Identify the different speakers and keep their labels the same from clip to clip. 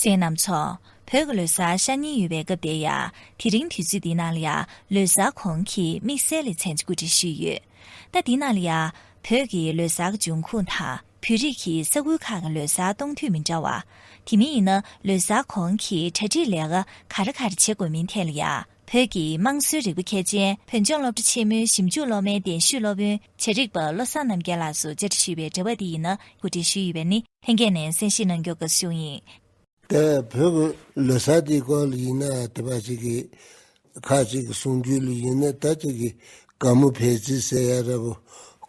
Speaker 1: ཟས་རྣམས་འཚོ། བོད་ཀྱི་ལོ་གསར་ཤ་ཉེ་ཡོད་པའི་སྐབས་དེར་ཡང་དེ་རིང་དུས་ཚོད་འདི་ནང་ལ་ཡང་ལོ་གསར་གོང་གི་དམིགས་བསལ་ལེ་ཚན་གཅིག་གོ་སྒྲིག་ཞུས་ཡོད། ཟླ་འདི་ནང་ལ་ཡང་བོད་ཀྱི་ལོ་གསར་གྱི་འབྱུང་ཁུངས་དང་བོད་རིགས་ཀྱི་ས་ཁུལ་ཁག་གི་ལོ་གསར་གཏོང་དུས་མི་འདྲ་བ། དེ་མིན་ཡིན་ན་ལོ་གསར་གོང་གི་གྲ་སྒྲིག་ལས་ཀ་ག་རེ་ག་རེ་བྱེད་དགོས་མིན་ཐད་ལ་ཡང། བོད་ཀྱི་དམངས་སྲོལ་རིག་པ་མཁས་ཅན་བོད་ལྗོངས་སློབ་གྲྭ་ཆེན་མོའི་ཞིབ་འཇུག་སློབ་མའི་གདན་ཞུས་སློབ་དཔོན་བྱེད་རིག་པ་བློ་བཟང་རྣམ་རྒྱལ་ལགས་སུ་བཅར་འདྲི་ཞུས་པའི་འབྲེལ་བ་འདི་ཡིན་ན་གོ་སྒྲིག་ཞུས་ཡོད་པ་ནི་ལྷན་རྒྱས་ནས་གསན་བཞེས་གནང་རྒྱུ་དགའ་བསུ་ཡིན། ད་
Speaker 2: བོད་ཀྱི་ལོ་སར་དེའི་སྐོར་ལ་ཡིན་ན་དེ་པ་ཞིག་གིས་ཁ་ཅིག་གི་གསུང་རྒྱུད་ལ་ཡིན་ན་ད་ཅིག་གིས་ག་མུ་བྷེ་རྩིས་གསལ་ཡ་ར་བོ་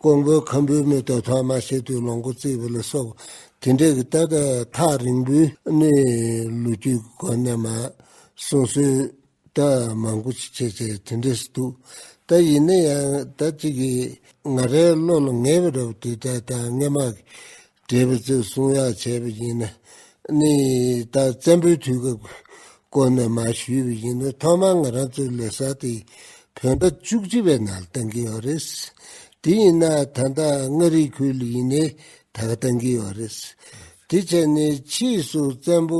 Speaker 2: ཀོང་པོའི་ཁམ་བུའི་མི་དོ་ཐོག་མ་ཤེས་དུས་ལོངས་སྐུ་བརྩིས་པ་ལ་སོགས་དེ་འདྲས་ཀྱི་ལྟ་གྲ་ཐག་རིང་པོའི་གནས་ལུགས་རྒྱུད་གོ་གནས་མ་གསུངས་སོད། ད་མང་པོ་ཅིག་བྱས་བྱས་དེ་འདྲས་སུ་འདུག་ད་ཡིན་ན་ཡང་ད་ཅིག་གི་ང་རའི་བློ་ལ་ངེས་པ་འདྲ་བོ་དུས་ད་ལྟ་སྔས་མ་གི་འདྲས་པའི་རྩོད་གསུངས་ཡག་བྱས་པ་ཡིན་ན་ནི་ད་བཙན་པོའི་དུས་སྐབས་ཀྱི་སྐོར་ནས་མ་ཞུས་པ་ཡིན་ན་ཐོག་མར་ང་རང་ཚོའི་ལས་བཟའ་དེ་བོད་ཟླ་བཅུ་གཅིག་པའི་ནང་ལ་བཏང་གི་ཡོད་རེད། དེ་ཡིན་ན་ད་ད་མངའ་རིས་ཁུལ་ལ་ཡིན་ནའི་ད་ག་བཏང་གི་ཡོད་རེད། དེ་བྱས་ནས་ཕྱིས་སུ་བཙན་པོ་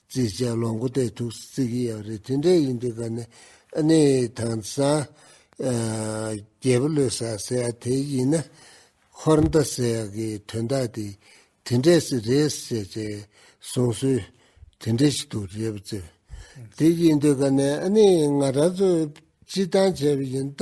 Speaker 2: རྩིས་བཅས་ལོ་མགོ་སྟེ་ཐུགས་བརྩེ་གི་ཡང་རེ་མཐུན་འབྲེལ་ཡིན་འདུག་ག་ནི་ཨ་ནེ་དང་སངས་རྒྱས་པོ་ལོས་ཟ་ཟེར་ཡ་དེ་ཡིན་ན་འཁོར་མདའ་ཟེར་ཡ་གི་དོན་དག་དེ་དེ་འདྲས་སི་རེད་ཟེར་བྱས་གསུངས་སྲོལ་དེ་འདྲས་ཤིག་འདུག་རེད་པ་ཙི་དེ་ཡིན་འདུག་ག་ནི་ཨ་ནེ་ང་རང་ཚོ་སྤྱི་བཏང་བྱས་པ་ཡིན་ད།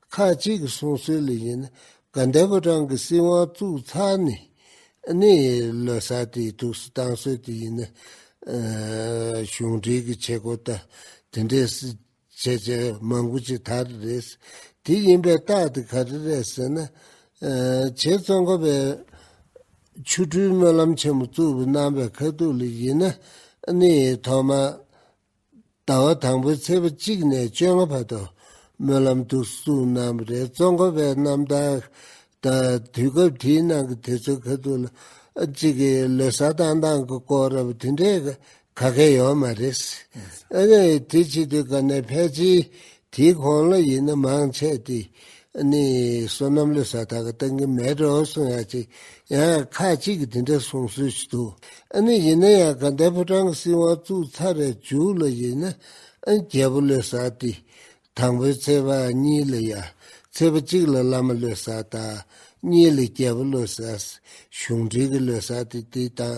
Speaker 2: ཁ་ཅིག་གི་གསུང་སྲོལ་ལས་གཞན་ན་དགའ་ཟླ་པུ་ཀྲང་གི་སྲིད་དབང་བཙུགས་ཚར་ནས་ནི་ལོ་སར་དེའི་ཐུགས་སུ་བཏང་སྲོལ་དེ་ཡིན། གཞུང་འབྲེལ་གྱི་བྱེད་སྒོ་ལྟར་དེ་འདྲའི་སྲིད་བྱེད་ཅན་མང་པོ་ཅིག་དར་རེད། དེ་ཡིན་པའི་རྟགས་དེ་ག་རེ་རེད་ཟེར་ན། བྱས་ཙང་ཁོ་པས་ཆོ་འཕྲུལ་སྨོན་ལམ་ཆེན་མོ་བཙུགས་པའི་རྣམ་པའི་ཁ་ཐུག་ལས་གཞན་ན་ནི་ཐོག་མར་ཟླ་བ་དང་པོའི་ཚེས་པ་གཅིག་ནས་བཅོ་ལྔ་བར་དུ་སྨོན་ལམ་ཐུགས་གསོ་རྣམས་རེ་གཙོ་འཁོར་བའི་རྣམ་དག་དང་དུས་སྐབས་དེའི་ནང་གི་དུས་ཚོད་ག་ཚོད་ལ་གཅིག་གི་ལོ་གསར་བཏང་སྟངས་ཀྱི་སྐོར་རབ་དུས་འདྲེས་ག་གེ་ཡོད་མ་རེད། དེ་ཕྱི་དུས་ག་ནས་ཕལ་ཆེའི་དེའི་གོང་ལ་ཡིན་ན་མང་ཆེ་སྟེ་ནི་བསོད་ནམས་ལས་ས་ཐག་གི་སྟེང་གི་མལ་གྲོ་གསུང་ཡ་གཅིག་ཡང་ཁ་ཅིག་གིས་དེ་འདྲ་གསུང་སྲོལ་ཞིག་འདུག་ཨ་ནི་ཡིན་ན་ཡང་ག་འདའི་ཕོ་བྲང་གི་སྲིད་དབང་བཙུགས་ཚར་རེ་བཅུག་ལ་ཡིན་ན་རྒྱལ་པོ་ལས་ས་སྟེ་དང་པོའི་ཚེས་པ་གཉིས་ལ་ཡ་ཚེས་པ་གཅིག་ལ་བླ་མ་ལས་ས་དང་གཉིས་ལ་རྒྱལ་པོ་ལས་ས་གཞུང་འབྲེལ་གྱི་ལས་ས་སྟེ་དེ་དང་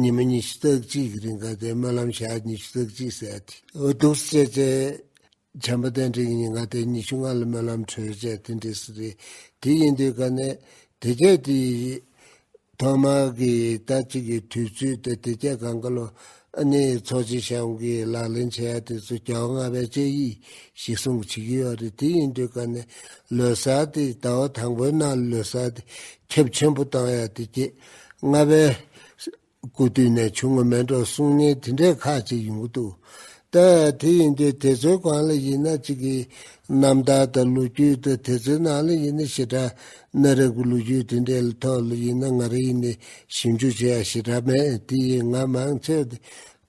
Speaker 2: ཉི་མ་ཉི་ཤུ་རྩ་གཅིག་གི་རིང་ག་ཏའི་སྨོན་ལམ་ཞག་ཉི་ཤུ་རྩ་གཅིག་བསད་དེ། གདུགས་སུ་བཅད། བྱམས་པ་བསྟན་འཕྲིན་གྱི་ཉིན་ག་ཏའི་ཉི་ཤུ་ལྔ་ལ་སྨོན་ལམ་གྲོལ་བྱས་དེ་འབྲས་སུ་རེད། དེ་ཡིན་དུས་ག་ནས་དེ་རྒྱལ་སྤྲི་ཡི་ཐོག་མ་གི་ཟླ་གཅིག་གི་དུས་ཚོད་དེ་དེ་རྒྱལ་གངས་དཀར་ལོ་ནི་ཚོགས་སྤྱི་ཤམ་གྱི་ལག་ལེན་བྱས་ཡ་དེ་ཚོ་གྱ་བ་ལྔ་པའི་དཔྱད་ཡིག་ཞིག་གསུངས་བྱེད་ཀྱི་ཡོད་རེད་དེ་ཡིན་དུས་ག་ནས་ལོ་སར་དེ་ཟླ་བ་དང་པོའི་ནང་ལོ་སར་དེ་ཁྱབ་ཆེན་པོ་བཏང་ཡ་དེ་རྒྱལ། ལྔ་པའི། སྐུ་བསྟུན་ནས་ཆུང་ངུ་མེད་འགྲོ་གསུང་སྙན་དེ་འདྲའི་ཁག་ཅིག་ཡོང་གི་འདུག་ད། དེ་ཡིན་དུས་དེ་ཚོའི་གང་ལ་ཡིན་ན་ཅིག་གི་རྣམ་ཐར་དང་ལོ་རྒྱུས་དང་དེ་ཚོའི་ནང་ལ་ཡིན་ན་ཞེ་དྲག་གནའ་རབས་ཀྱི་ལོ་རྒྱུས་དེ་འདྲའི་ཐོག་ལ་ཡིན་ན་ང་རང་ཡིན་ནས་ཞིབ་འཇུག་བྱེད་ཡག་ཞེ་དྲག་མེད་དེ་ཡིན་ང་མང་ཚོས་དེ་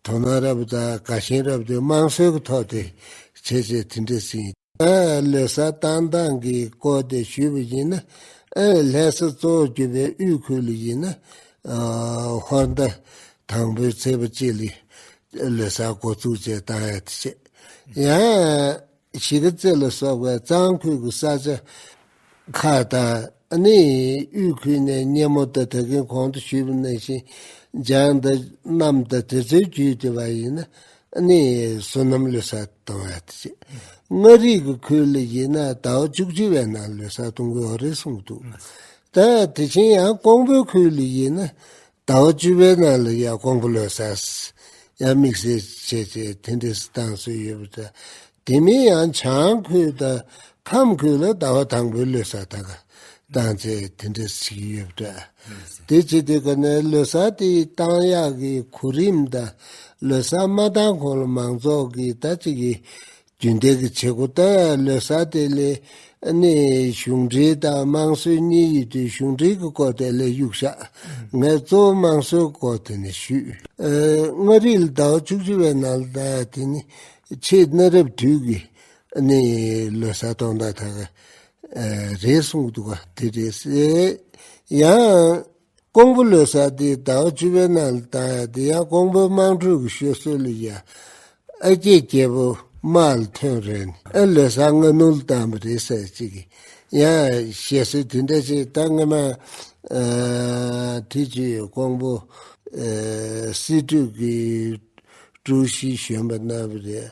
Speaker 2: དོ་སྣང་རབ་དང་དགའ་ཞེན་རབ་དེ་དམངས་སྲོལ་གྱི་ཐོག་དེ་བྱས་བྱས་དེ་འདྲ་ཟིན། ལས་ས་ཏང་ཏང་གིས་བསྐོས་ཏེ་ཞུས་པ་ཡིན་ན། ལས་ས་གཙོ་བོ་གྱུར་པའི་དབུས་ཁུལ་ལ་ཡིན་ན། ཧོར་ཟླ་དང་པོའི་ཚེས་པ་གཅིག་ལས་ལས་ས་འགོ་བཙུགས་བཅས་གཏང་ཡ་ཆེ། ཡང། གཞིས་ཀ་རྩེ་ལ་སོགས་པའི་གཙང་ཁུལ་གྱི་ས་ཆ་ཁ་བཏགས་ནི་དབུས་ཁུལ་ནས་སྙེ་མོ་དང་ཐད་ཀའི་གོང་དུ་ཞུས་པའི་གནས་ཤིང་ལྗང་མདའ་རྣམས་དང་དེ་ཚོའི་རྒྱུད་དེ་བ་ཡིན་ན་ནི་བསོད་ནམས་ལུས་ས་གཏོང་བ་ཡིན་ཅེས། མངའ་རིས་ཀྱི་ཁུལ་ལ་ཡིན་ན་ཟླ་བ་བཅུ་གཅིག་པའི་ནང་ལུས་ས་གཏོང་དགོས་རེད་གསུངས་འདུག་ད་དེ་བཞིན་ཡང་ཀོང་པོའི་ཁུལ་ལ་ཡིན་ན་ཟླ་བ་བཅུ་པའི་ནང་ལ་ཡར་ཀོང་པོ་ལོས་ས་སྲིད་ཡར་དམིགས་བསལ་བྱས་ཏེ་དེ་འདྲའི་སྲིད་ཏང་བཟོས་ཡོད་པ་དང། དེ་མིན་ཡང་བྱང་ཁུལ་དང་ཁམས་ཁུལ་ལ་ཟླ་བ་དང་པོའི་ལོས་ས་ད་ག་བཏང་ཚེ་དེ་འདྲ་བྱེད་ཀྱི་ཡོད་པ་འདྲ། དེ་བྱེད་དུས་ག་ནས་ལོས་ས་དེའི་ཏང་ཡག་གི་གོ་རིམ་དང་ལོས་ས་མ་བཏང་གོང་ལ་མང་ཚོགས་ཀྱིས་ད་ཅི་གི་རྒྱུན་ལྡན་གྱི་བྱེད་སྒོ་ལྟར་བློས་གསར་གཏོད་ལས་གནས་གཞུང་འབྲེལ་དང་དམངས་སྲོལ་གཉིས་ཡུལ་དུས་གཞུང་འབྲེལ་གྱི་བསྐོ་དེ་ལས་གཡུག་ཤག་ངལ་རྩོལ་དམངས་སྲོལ་བསྐོ་དེ་ནས་བཤུས། མངའ་རིས་ལ་ཟླ་བ་བཅུ་བཅུ་བའི་ནང་ལ་དེ་ནི་ཆེས་གནའ་རབས་དུས་ཀྱི་བློས་གསར་གཏོང་ཟླ་དག་རེད་གསུངས་འདུག་ག་དེ་རེད། ཡང། ཀོང་པོ་ལོའི་ས་དེའི་ཟླ་བ་བཅུ་པའི་ནང་ལ་བཏང་ཡ་དེ་ཡང་ཀོང་པོའི་དམངས་ཁྲོད་ཀྱི་ཤོད་སྲོལ་ལས་ཡ། ཨ་སྐྱེས་སྐྱེས་པོ་དམག་ལ་ཐོན་རན་ནས་ཨ་ལོའི་ས་སྔ་ནུ་ལ་བཏང་པ་རེད་ཟེར་ཅིག་གི་ཡང་བཤད་སྲོལ་དེ་འདྲ་ཆེ་ད་སྔ་མ་དུས་ཀྱི་ཀོང་པོ་སྲིད་གྲོས་ཀྱི་ཀྲུའུ་ཞི་གཞོན་པ་རྣམས་རེད་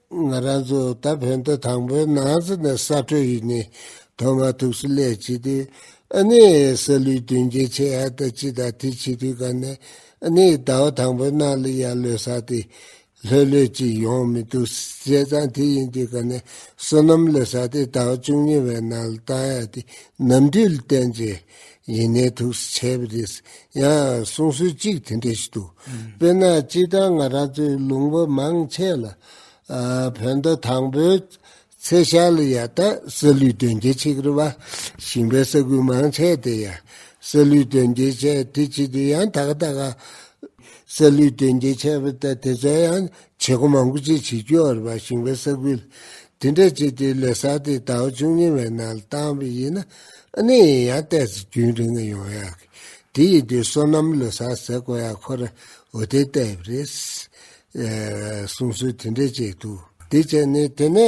Speaker 2: ང་རང་ཚོ་ད་བོད་ཟླ་དང་པོའི་ནང་ཚུད་ནས་ས་བྲོས་ཡིན་ནི་དོ་མ་ཐུག་སུ་ལས་སྤྱི་འཐུས་ཨ་ནེ་ས་ལུའི་མདུན་རྒྱལ་ཆེ་ཨ་ད་ཅི་ད་དེ་སྤྱི་འཐུས་ག་ནས་ཨ་ནེ་ཟླ་བ་དང་པོའི་ནང་ལ་ཡར་ལོས་ས་དེ་ལྷོད་ལྷོད་ཅིག་ཡོང་མི་འདུག་བྱས་ཙང་དེ་ཡིན་དུས་ག་ནས་བསོད་ནམས་ལོས་ས་དེ་ཟླ་བ་བཅུ་གཉིས་བའི་ནང་ལ་བཏང་ཡ་དེ་ནམ་དུས་ལ་བསྟན་རྗེས་ཡིན་ནའི་ཐུགས་སུ་ཆས་པ་རེད། ཡང་གསུང་སྲོལ་གཅིག་དེ་འདྲ་ཞིག་འདུག་དཔེར་ན་སྤྱིར་བཏང་ང་རང་ཚོའི་ལུང་པ་མང་ཆེ་ལ། བོད་ཟླ་དང་པོའི་ཚེས་ཤར་ལ་ཡ་ད་ས་ལུའི་དོན་རྒྱལ་ཆེ་གེར་བ་ཞིང་པའི་ས་ཁུལ་མང་ཆེ་དེ་ཡ་ས་ལུའི་དོན་རྒྱལ་ཆེ་དེ་བྱེད་དུས་ཡང་ད་ག་ད་ག། ས་ལུའི་དོན་རྒྱལ་ཆེ་བ་ད་དེ་ཚོ་ཡང་བྱེད་སྒོ་མང་པོ་བཅས་བྱེད་རྒྱུ་འར་བ་བྱིངས་པའི་ས་ཁུལ་དེ་འདྲ་སྤྱི་བདེའི་ལས་ས་དེ་ད་བར་ཅུང་ཉེ་བའི་ནང་བཏང་བས་ཡིན། གནས་ཡིན་ཡང་བལྟས་ཚེ་རྒྱུན་རིང་ངེས་ཡོང་ཡག་གི། དེ་ཡིན་དུས་སོ་ནམ་ལོ་སར་ཟེར་དགོས་ཡག་ཁོ་ར་འུ་དེ་ལྟ་བུ་རེད། གསུང་སྲོལ་དེ་འདྲས་བཅས་འདུག། དེ་བྱས་ནས་དེ་ནས་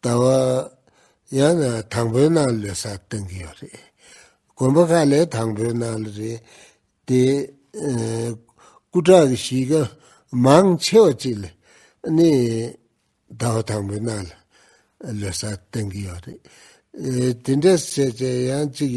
Speaker 2: ལྟ་བ། ཡང་ན་དང་པོའི་སྣང་བློས་ས་བཏོན་གྱི་ཡོད་རེད། དགོན་པ་ཁག་ལས་དང་པོའི་སྣང་བློ་རེད་དེ། སྐུ་དྲག་གི་གཞིས་ཀ་མང་ཆེ་བ་ཅིག་ལས་ནི། ལྟ་བ་དང་པོའི་སྣང་བློས་ས་བཏོན་གྱི་ཡོད་རེད། དེ་འདྲ་བྱས་བྱས་ཡང་ཅིག་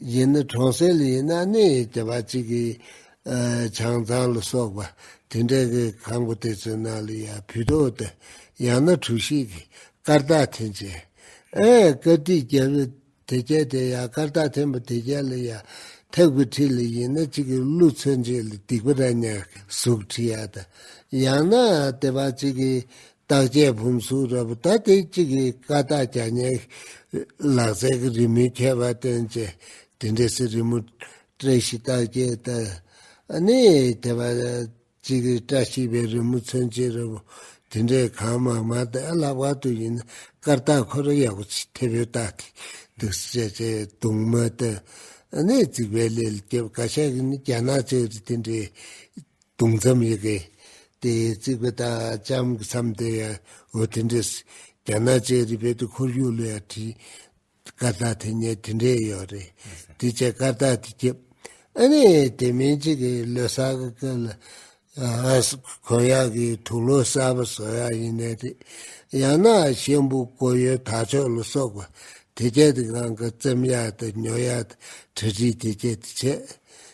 Speaker 2: གཞན་ནི་གྲོང་གསེབ་ཡིན་ན་གནས་ཡུལ་གྱི་བ་གཅིག་གི་བྱང་ཙང་ལ་སོགས་པ་དེ་འདྲ་གི་གང་པོ་དེ་ཚོའི་ནང་ལ་ཡང་བུད་དོ་སྟེ་ཡང་ན་གྲུ་ཞིག་གི་སྐར་རྟགས་འཐེན་བྱས། ཀིརྟིའི་རྒྱལ་པོས་དེ་བསྐྱལ་ཏེ་ཡང་སྐར་རྟགས་འཐེན་པ་དེ་བསྐྱལ་ལ་ཡང་ཐེག་དགུ་ཁྲི་ལ་ཡིན་ན་གཅིག་གི་ཀླུ་མཚོན་ཆེ་ལ་སྡིག་པ་ར་ཉག་གི་གཟུགས་བྲི་ཡ་དང་ཡང་ན་དེ་བ་གཅིག་གི་བརྟག་དཔྱད་བུམ་གཟུགས་རབ་བརྟག་སྟེ་གཅིག་གིས་བཀའ་རྟགས་གྱ་སྙེགས། ལག་རྩལ་གྱི་རི་མོའི་ཁྱད་པར་བསྟན་བཅས་དེ་འདྲའི་གསེར་རི་མོ། བཀྲ་ཤིས་རྟགས་བརྒྱད་ལྟར་ནི་དེ་བ་གཅིག་གིས་བཀྲ་ཤིས་པའི་རི་མོ་མཚོན་བྱེད་རབ་བོ་དེ་འདྲའི་གང་མང་མ་དེ་བཀླག་པ་དུས་ཡིན་ན་བཀའ་རྟགས་ཁོ་ར་ཡག་པོ་ཆེ་མཐེ་བོའི་རྟགས་དེ་འདུག་བཤད་བྱས་གདུང་མ་དེ་ནི་རྩིག་པའི་ལས་ལ་སྐྱེ་བ་བཀའ་ཤག་གིས་ནི་རྒྱ་ནག་ཚའི་རི་དེ་འདྲའི་དུང་མཚམས་ཡི་གེ། དེའི་རྩིག་པའི་དང་ལྕམ་གྱི་མཚམས་དེར་ཡང་འོད་དེ་འདྲས། རྒྱ་ནག་ཅེ་རི་བེ་ཏུ་འཁོར་ཡུག་ལ་ཡང་བྲིས། སྐར་རྟགས་དེ་ཉིད་དེ་འདྲས་ཡོད་རེད། དེ་བྱས་སྐར་རྟགས་དེ་བསྐྱེད། ཨ་ནི་དེ་མིན་གཅིག་གི་ལོ་གསར་གྱི་སྐབས་ལ། གོ་ཡག་གི་དུག་ལོ་གསར་པ་བཟོ་ཡག་ཡིན་ནའི་རེད། ཡང་ན་གཤེན་པོ་སྐོར་ཡོལ་དར་ལྕོག་ལ་སོགས་པ་དེ་བྱས་ཏེ་གང་གི་བཙེམ་ཡག་དང་ཉོ་ཡག་དང་གྲ་སྒྲིག་དེ་བྱས་དེ་བྱས།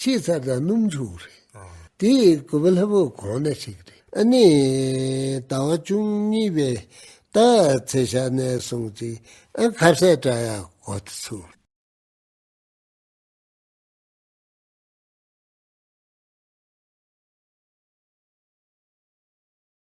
Speaker 2: ཆེས་མཚར་དང་སྣུམ་ཕྱུགས་རེད། དེ་ཡི་གོ་བ་ལྷ་བུ་གོང་ན་ཞིག་རེད། ཨ་ནི། ད་བ་ཅུང་གཉིས་པའི་ད་ཚེ་ཞག་ནས་སོང་ཅིག་ཨ་ཁ་བསད་བཀྲ་ཡག་གོ་ཐུ་ཚུ།